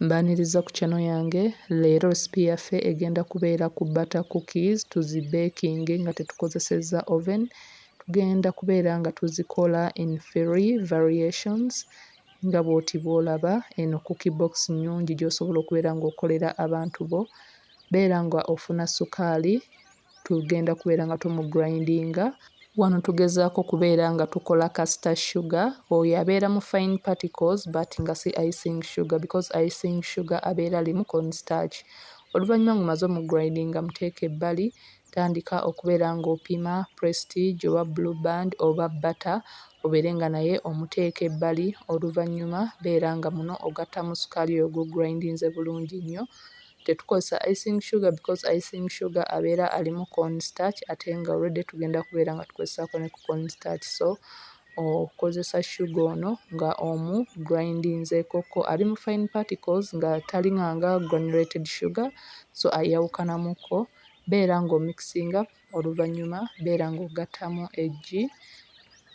Mbaniriza ku channel yange, leero recipe yaffe egenda kubeera ku butter cookies tuzi bakinge nga tetukozesezza oven, tugenda kubeera nga tuzikola in three variations nga bwoti bwolaba, eno cookie box nnyungi gyosobola okubeera nga okolera abantu bo, beera nga ofuna sukaali tugenda kubeera nga tumugirindinga. Wano tugezaako kubeera nga tukola kasita sugar, oyo abeera mu fine particles but nga si icing sugar because icing sugar abeera alimu corn starch. Oluvannyuma ng'omaze omugirindinga muteeke ebbali, tandika okubeera ng'opima Prestige oba Blue Band oba bata obeere nga naye omuteeka ebbali oluvannyuma beera nga muno ogattamu sukaali oyo gw'ogirindinze bulungi nnyo. Tetukozesa icing sugar because icing sugar abeera alimu corn starch ate nga already tugenda kubeera nga tukozesaako ne ku corn starch so okozesa sugar ono nga omu grindinzeekokko ali mu fine particles nga taling'anga granulated sugar so ayawukanamuko beera nga omixinga Oluvannyuma beera ng'ogattamu eggi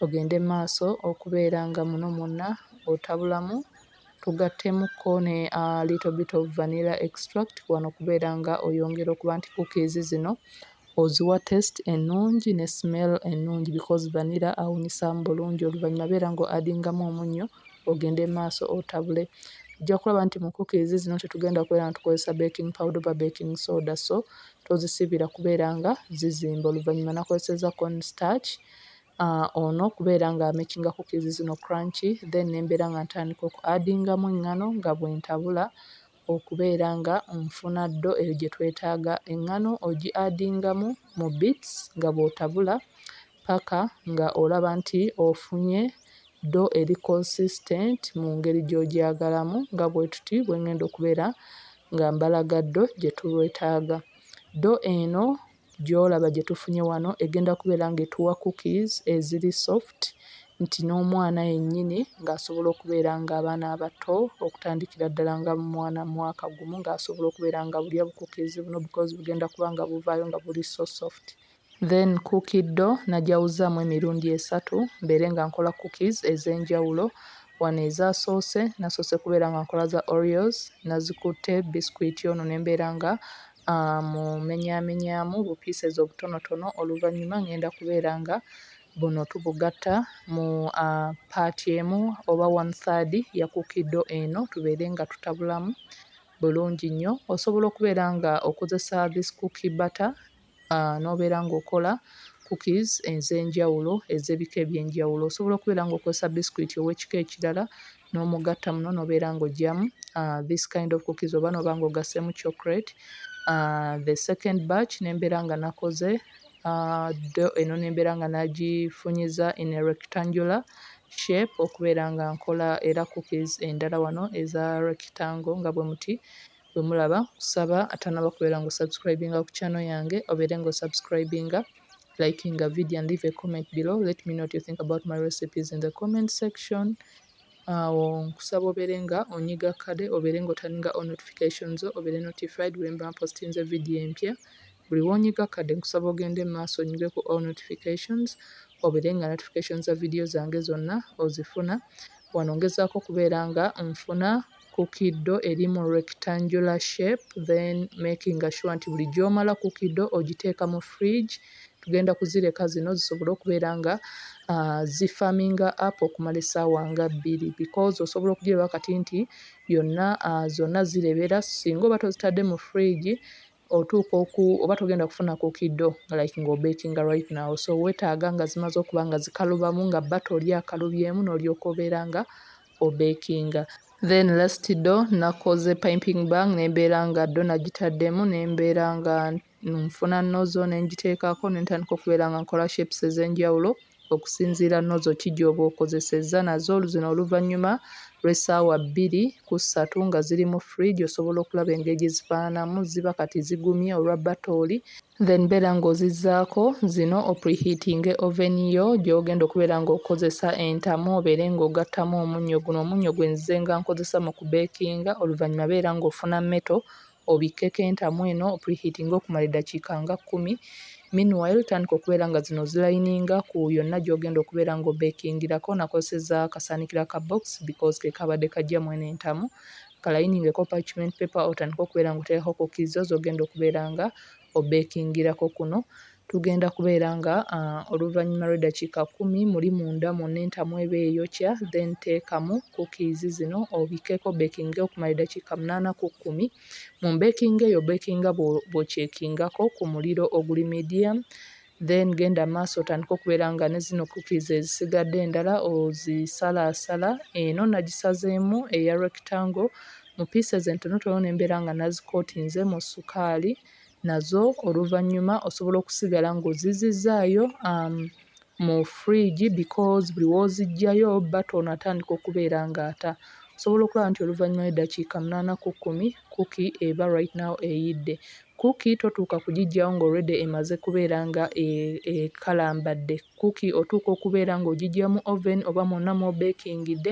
ogende mu maaso okubeera nga muno mwonna otabulamu, tugattemuko ne a little bit of vanilla extract wano okubeera nga oyongera okuba nti cookies zino oziwa taste ennungi ne smell ennungi because vanilla awunyisaamu bulungi. Oluvannyuma beera ng'o-addingamu omunnyo ogende mu maaso otabule. Ojja kulaba nti mu cookies zino tetugenda kubeera nga tukozesa baking powder oba baking soda so tozisiibira kubeera nga zizimba oluvannyuma nakozesezza corn starch uh, ono kubeera nga amakinga cookies zino crunchy then nembeera nga ntandika oku addingamu eŋŋano nga bwentabula okubeera nga nfuna ddo eyo gye twetaaga eŋŋano ogi addingamu mu bits nga bw'otabula paka nga olaba nti ofunye do eri consistent mungeri gyogyagalamu nga bwetuti bwengenda okubera nga mbalaga do gyetulwetaga. Do eno gyolaba gyetufunye wano egenda kubera nga etuwa cookies eziri soft nti nomwana yenyini nga asobola okubera nga abaana abato okutandikira ddala nga mwana mwaka gumu nga asobola okubera nga bulya bu cookies buno because bugenda kuba nga buvayo nga buli so soft. Then cookie dough nagyawuzaamu emirundi esatu mbeere nga nkola cookies ez'enjawulo. Wano ezasoose nasoose kubeera nga nkola za oreos, nazikutte biscuit ono ne mbeera nga mmumenyaamenyaamu bu pieces obutonotono oluvannyuma ng'enda kubeera nga buno tubugatta mu part emu oba one third ya cookie dough eno tubeere nga tutabulamu bulungi nnyo. Osobola okubeera nga okozesa this cookie butter nobeera nga okola cookies ezenjawulo ezebika ebyenjawulo osobola okubeera nga okozesa biscuit owekika ekirala nomugatta muno nobeera nga ojjamu this kind of cookies oba noba nga ogasemu chocolate the second batch nembeera nga nakoze dough eno nembeera nga najifunyiza in a rectangular shape okubeera nga nkola era cookies endala wano eza rectangle nga bwemuti. Bwemulaba nkusaba atanaba kubeera nga osubscribinga ku channel yange obeere nga osubscribinga, likinga video and leave a comment below let me know what you think about my recipes in the comment section. Awo nkusaba obeere nga onyiga kade obeere nga otaninga all notifications zo obeere notified bwemba mpostinze video empya. Buli wonyiga kade nkusaba ogende mu maaso onyige ku all notifications obeere nga notifications za video zange zonna ozifuna. Wano ngezaako okubeera nga nfuna kukido eri mu rectangular shape then making sure nti buli gyomala kukido ogiteeka mu fridge tugenda kuzireka zino zisobole okubeera nga ah, zi farming up okumala esaawa nga bbiri because osobola okugiraba kati nti yonna ah, zonna zirebera singa oba tozitadde mu fridge otuuka oku oba togenda kufuna ku kiddo nga like nga obekinga right now so wetaaga nga zimaze okuba nga zikalubamu nga bata oli akalubyemu n'olyoka obeera nga obekinga then last do nakoze pimping bang nembeera nga do nagitaddemu nembeera nga nfuna nozo nengiteekako nentandika okubeera nga nkola shapes ezenjawulo okusinziira nozo ki gy'oba okozesezza nazo zino oluvannyuma lw'essaawa bbiri ku ssatu nga ziri mu fridge osobola okulaba engeri gye zifaananamu ziba kati zigumye olwa batooli then beera ng'ozizzaako zino opreheatinge oven yo gy'ogenda okubeera ng'okozesa entamu obeere ng'ogattamu omunnyo guno omunnyo gwe nzize nga nkozesa mu kubeekinga oluvannyuma beera ng'ofuna meto obikkeko entamu eno opreheatinge okumala eddakiika nga kkumi, meanwhile tandika okubeera nga zino ozilayininga ku yonna gy'ogenda okubeera nga obekingirako, nakozesezza akasaanikira aka box because ke kaabadde kajja mweno entamu, kalayiningeko parchment paper otandike okubeera nga oteekako cookies zo z'ogenda okubeera nga obekingirako kuno. Tugenda kubeera nga oluvanyuma lwedakiika kumi muli munda mwonna entamu eba eyokya then teekamu cookies zino obikeko obekinge okumala edakiika munaana ku kumi. Mu baking eyo obekinga bwokyekingako ku muliro oguli medium then genda maaso otandike okubeera nga ne zino cookies ezisigadde endala ozisalaasala. Eno nagisazeemu eya rectangle mu pieces entonotono ne mbeera nga nazikootinze mu sukaali. nazo oluvannyuma osobola okusigala ng'ozizzizaayo mu fridge because buli w'oziggyayo bba ono atandika okubeera ng'ata. Osobola okulaba nti oluvannyuma lw'eddakiika munaana ku kkumi cookie eba right now eyidde. Cookie totuuka kugiggyawo nga already emaze kubeera nga e, ekalambadde. Cookie otuuka okubeera ng'ogiggya mu oven oba mwonna mw'obeekingidde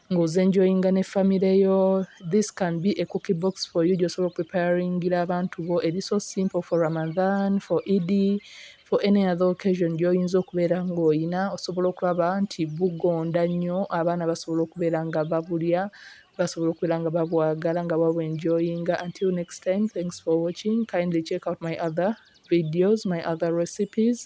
nga oze enjoyinga ne family yo this can be a cookie box for you gyosobola okupreparingira abantu bo eri so simple for ramadhan for ed for any other occasion gyoyinza okubeera ngaoyina osobola okulaba nti bugonda nnyo abaana basobola okubeera nga babulya basobola okubeera nga babwagala nga babu enjoyinga until next time thanks for watching kindly check out my other videos my other recipes